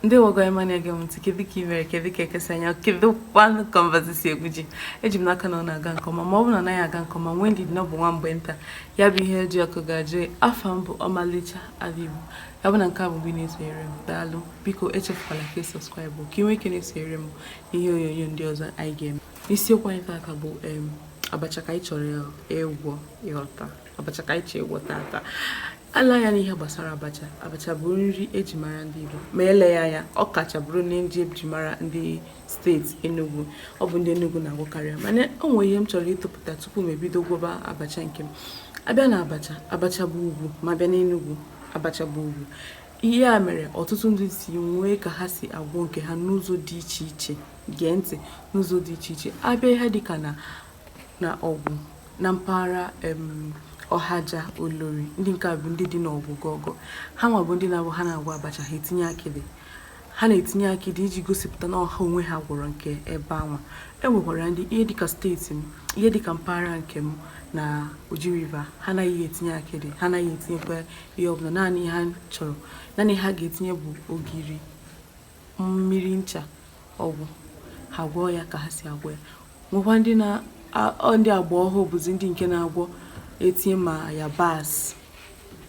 ndeewo gị nwa na-ege m ntị kedu ka ị mere kedu ka eke si anya kedu kwanụ ka mbazụ si egwu ji eji m n'aka na ọ na-aga nke ọma ma ọ bụrụ na ọ naghị aga nke ọma nwee ndidi na ọ bụ nwa mgbe nta ya bụ ihe ji ọkụ ga-ajụ afa m bụ ọmalịcha ala ọ bụ na nke a bụ mgbe ị na-esonyere m daalụ biko echefukwala ka ị sọskraịbụ ka ị nwee ike na-esonyere m n'ihe onyonyo ndị ọzọ anyị ga-eme isiokwu anyị taata bụ abacha ka anyị chọrọ ịgwọ ịghọta abacha ka anyị chọrọ ịgwọ taata e lee anya n'ihe gbasara abacha abacha bụ nri eji mara ndị Igbo ma eleghị anya ọ kacha bụrụ nri eji mara ndị steeti Enugu ọ bụ ndị Enugu na-agwọkarị ya mana o nwere ihe m chọrọ ịtụpụta tupu m ebido gwọba abacha nke m a bịa na abacha abacha bụ ọgwụ ma a bịa n'Enugu abacha bụ ọgwụ ihe a mere ọtụtụ ndị si nwee ka ha si agwọ nke ha n'ụzọ dị iche iche gee ntị n'ụzọ dị iche iche a bịa ihe dịka na na Ọgwụ na mpaghara Ọhaja Olori ndị nke a bụ ndị dị n'Ọgwụ gọgọ ha nwa bụ ndị na-abụ ha na-agwọ abacha ha etinye akịdị Ha na-etinye akịdị iji gosipụta na ọ ha onwe ha gwọrọ nke ebe anwa. E nwekwara ndị ihe dịka steeti m, ihe dịka mpaghara nke m na Oji River, ha anaghị etinye akịdị, ha anaghị etinyekwa ihe ọbụla. Naanị ihe ha chọrọ, naanị ha ga-etinye bụ ogiri, mmiri ncha, ọ gwụ. Ha gwọọ ya ka ha si agwọ ya. Nwekwa ndị na ndị agba ọhụụ bụzi ndị nke na-agwọ etinye ma yabasị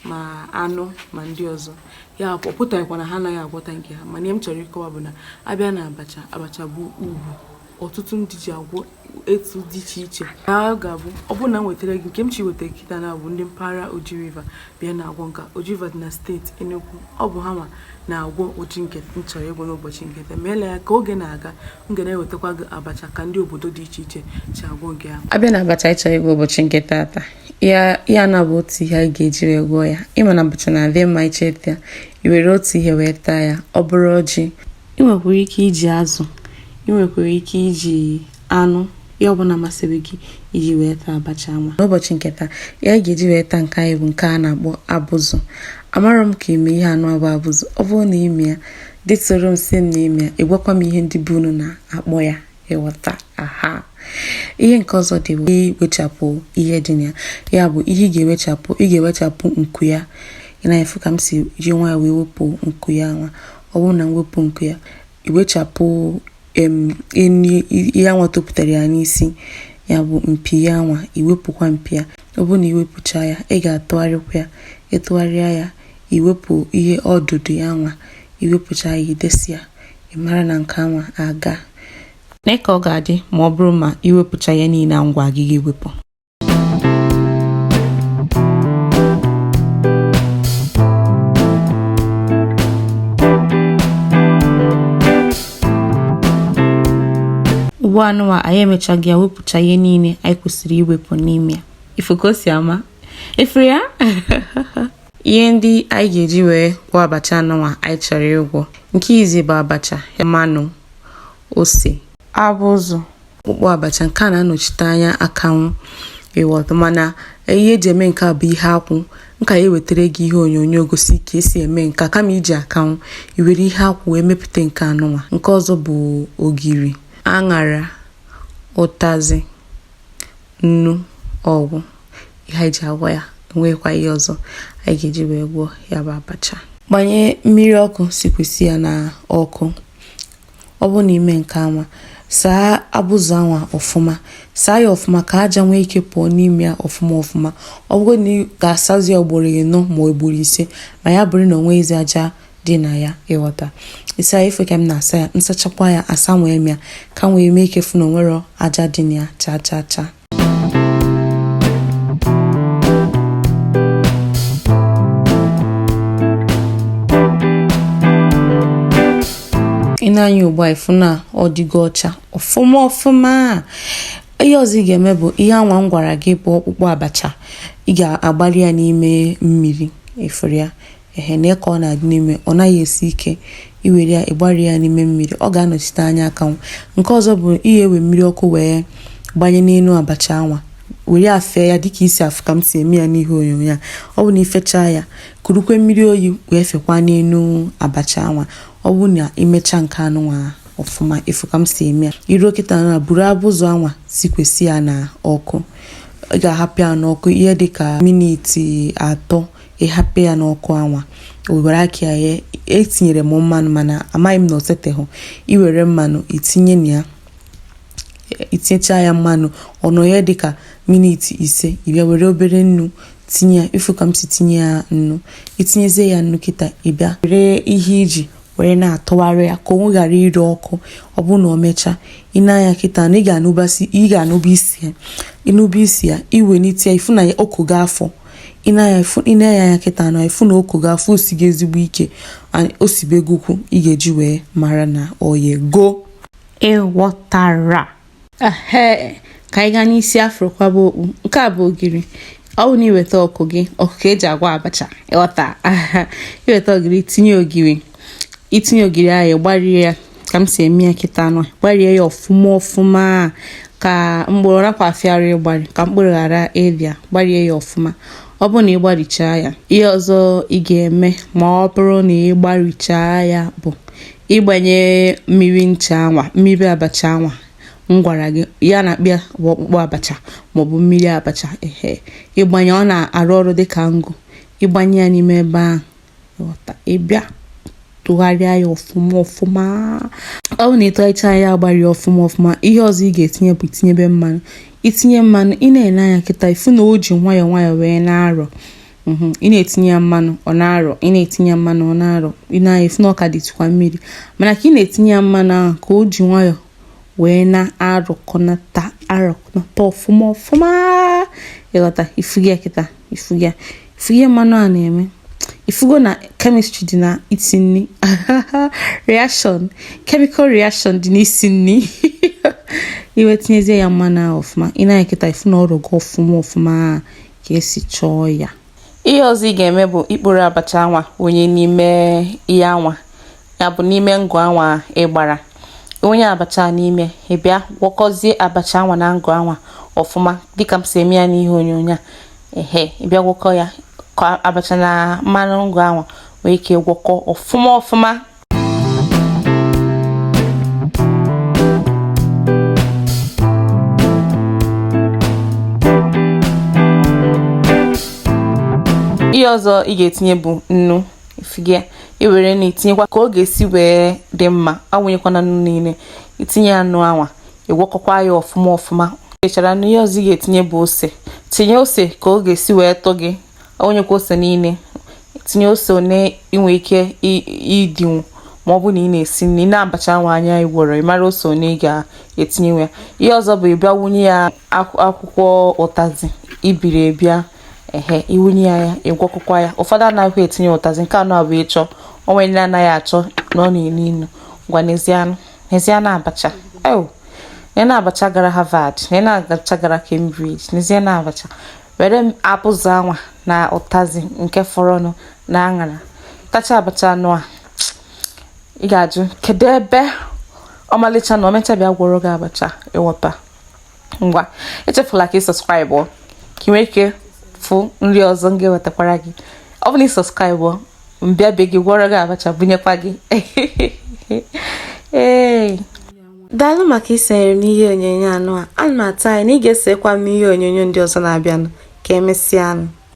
ma anụ ma ndị ọzọ ya ọ pụtaghịkwa na ha anaghị agwọta nke ha mana ihe m chọrọ ịkọwa bụ na a bịa na abacha abacha bụ ọgwụ ọtụtụ ndị ji agwọ etu dị iche iche na ọ ga-abụ ọ bụrụ na m wetara gị nke m chi wetara kịta na bụ ndị mpaghara Oji River bịa na agwọ nka Oji River dị na steeti Enugu ọ bụ ha nwa na-agwọ ụdị nke m chọrọ ịgwọ n'ụbọchị nke taa ma eleghị anya ka oge na-aga m ga na-ewetakwa gị abacha ka ndị obodo dị iche iche si agwọ nke ha a bịa na abacha anyị chọrọ ịgwọ ụbọchị nke taata ya ya na bụ otu ihe anyị ga-eji wee gwọọ ya ịma na abacha na-adị mma ị chọọ ịta i were otu ihe wee taa ya ọ bụrụ ọjị ị nwekwara ike iji azụ ị nwekwara ike iji anụ ihe ọbụla masịrị gị iji wee taa abacha nwa n'ụbọchị nke taa ihe anyị ga-eji wee taa nke anyị bụ nke a na-akpọ abụzụ amarọ m ka ị ma ihe anụ a bụ abụzụ ọ bụrụ na ị ma ya detụrụ m sị m na ị ma ya ị gwakwa m ihe ndị be unu na-akpọ ya ịghọta aha ihe nke ọzọ dị iwechapụ ihe dị na ya ya bụ ihe ị ga-ewechapụ ị ga-ewechapụ nku ya ị na-afụ ka m si ji nwayọ wee wepụ nku ya nwa ọ bụrụ na m wepụ nku ya iwechapụ ihe anwa topụtara ya n'isi ya bụ mpi ya nwa iwepụkwa mpi ya ọ bụrụ na iwepụcha ya ị ga-atụgharịkwa ya ịtụgharịa ya iwepụ ihe ọdụdụ ya nwa iwepụcha ya idesi ya Ị mara na nke anwa agaa. Lee ka ọ ga-adị ma ọ bụrụ ma iwepụcha ihe niile a m gwara gị ị ga-ewepụ. Ugbu anụwa anyị emechago ya wepụcha ihe niile anyị kwesịrị iwepụ n'ime ya. Ịfụ ka o si ama. Ịfụrụ ya? ihe ndị anyị ga-eji wee gwọ abacha anụnwa anyị chọrọ ịgwọ nke izizi bụ abacha mmanụ ose abụzụ ọkpụkpụ abacha nke a na-anọchite anya akanwụ ịghọta mana ihe eji eme nke a bụ ihe akwụ m ka ya-ewetara gị ihe onyonyo gosi ka esi eme nke a kama iji akanwụ iwere ihe akwụ wee mepụta nke anụnwa nke ọzọ bụ ogiri aṅara ụtazị nnu ọ gwụ ihe anyị ji agwọ ya o nweghịkwa ihe ọzọ anyị ga-eji wee gwọọ ya bụ abacha gbanye mmiri ọkụ sikwesị ya na ọkụ ọ bụrụ na imee nke anwa saa abụzụ anwa ọfụma saa ya ọfụma ka aja nwee ike pụọ n'ime ya ọfụma ọfụma ọ bụrụ na ị ga-asazi ya ugboro ịnọ ma ugboro ise ma ya bụrụ na o nweghịzi aja dị na ya ịghọta ịsa ya ịfụ ka m na-asa ya m sachakwa ya asanwee m ya ka m wee nwee ike fụ na o nwerọ aja dị na ya cha cha cha ị nee anya ugbu a ịfụ na ọ dịgo ọcha ọfụma ọfụma ihe ọzọ ị ga-eme bụ ihe anwa m gwara gị bụ ọkpụkpụ abacha ị ga-agbali ya n'ime mmiri ịfụrụ ya ehe nee ka ọ na-adị n'ime ọ naghị esi ike iwere ya ịgbari ya n'ime mmiri ọ ga-anọchite anya akanwụ nke ọzọ bụ iwere mmiri ọkụ wee gbanye n'elu abacha anwa were ya fee ya dịka isi afụ ka m si eme ya n'ihe onyonyo ya ọ bụ na ifechaa ya kurukwa mmiri oyi wee fekwa n'elu abacha anwa ọ bụ na imecha nke anụnwa ọfụma ịfụ ka m si eme ya iruo kịta na buru abụzụ anwa sikwesị ya na ọkụ ị ga-ahapụ ya n'ọkụ ihe dịka miniti atọ ịhapụ ya n'ọkụ anwa were aka ya ghee etinyere m mmanụ mana amaghị m na o seteghị iwere mmanụ itinye na ya itinyecha ya mmanụ ọ nọọ ya dịka miniti ise ịbịa were obere nnu tinye ya ifu ka m si tinye ya nnu itinyezie ya nnu kịta ịbịa were ihe iji were na-atụgharị ya ka o wee ghara ire ọkụ ọ bụrụ na ọ mechaa ị nee anya kịta na ị ga-anụba isi ya ịnụba isi ya iwelite ya ifu na ya o kogo afọ ị nee ya anya kịta na ịfụ na o kogo afọ o sigo ezigbo ike o sibegokwu ị ga-eji wee mara na o yego ịghọtara ehe ka anyị gaa n'isi afro kwaba okpu nke a bụ ogiri ọ bụ na iweta ọkụ gị ọkụ ka eji agwọ abacha ịghọta iweta ogiri tinye ogiri itinye ogiri ahụ gbarie ya ka m si eme ya kịta anụ gbarie ya ọfụma ọfụma ka mkpụrụ rapụ afịara ịgbari ka mkpụrụ ghara ịbịa gbarie ya ọfụma ọ bụrụ na ị gbarichaa ya ihe ọzọ ị ga-eme ma ọ bụrụ na ị gbarichaa ya bụ ịgbanye mmiri ncha anwa mmiri abacha anwa m gwara gị ihe a na-akpọ ya bụ ọkpụkpụ abacha maọbụ mmiri abacha ehe ịgbanye ọ na-arụ ọrụ dịka ngụ ịgbanye ya n'ime ebe ahụ ị bịa tụgharịa ya ọfụma ọfụma ọ bụ na ịtụgharịcha ya agbari ọfụma ọfụma ihe ọzọ ị ga-etinye bụ itinyebe mmanụ itinye mmanụ ị na-ele anya kịta ifu na o ji nwayọọ nwayọọ wee na-arọ mhm, ị na-etinye ya mmanụ ọ na-arọ ị na-etinye ya mmanụ ọ na-arọ ị nee anya ifu na ọ ka dịtụkwa mmiri mana ka ị na-etinye ya mmanụ ahụ ka o ji nwayọọ wee na-arọkọnata arọkọnata ọfụma ọfụma ịghọta ifugo ya kịta ifugo ya fụ ihe mmanụ a na-eme ifugo na kemistri dị n'isi nri reaction chemical reaction dị n'isi nri iwee tinyezie ya mmanụ ahụ ọfụma ị nee kịta ifu na ọ rọgo ọfụma ọfụma ka esi chọọ ya ihe ọzọ ị ga-eme bụ ikporo abacha anwa wụnye n'ime ihe anwa ya bụ n'ime ngụ anwa ị gbara wụnye abacha n'ime ị bịa gwọkọzie abacha anwa na ngụ anwa ọfụma dịka m si eme ya n'ihe onyonyo a ehe ị bịa gwọkọ ya ka abacha na mmanụ ngụ anwa nwee ike gwọkọ ọfụma ọfụma ihe ọzọ ị ga-etinye bụ nnu ifu ị ga-ewere nnu itinyekwa ka ọ ga-esi wee dị mma awụnyekwana nnu niile itinye anụ anwa ị gwọkọkwa ya ọfụma ọfụma mechara na ihe ọzọ ị ga-etinye bụ ose tinye ose ka ọ ga-esi wee tụ gị enyekwa ose niile tinye ose one i nwe ike idinwu ma ọ bụ na ị na-esi nri nee abacha nwa anya ị gwọrọ ị mara ose one ị ga-etinye ya ihe ọzọ bụ ị bịa wunye ya akwụkwọ ụtazị i biri ebi ehe i wunye ya ya ị gwọkọkwa ya ụfọdụ anaghị etinye ụtazị nke anụ a bụ ị chọọ o nwe ndị anaghị achọ na ọ na-enu inu ngwa nezianụ nezianụ abacha oh ya na abacha gara Harvard ya na abacha gara Cambridge nezianụ abacha were m apụzụ anwa na ụtazi nke fọrọnụ na aṅara tacha abacha anụ a ị ga-ajụ kedu ebe ọmalịcha nọ mecha bịa gwọrọ gị abacha ị ghọta ngwa echefula ka ị subscribe ka ị nwee ike fụ nri ọzọ m ga-ewetakwara gị ọ bụ na ị subscribe m bịa be gị gwọrọ gị abacha bunyekwa gị ee daalụ maka isonyere m n'ihe onyonyo anụ a ana m atụ anya na ị ga-esokwa m n'ihe onyonyo ndị ọzọ na-abịanụ ka emesịanụ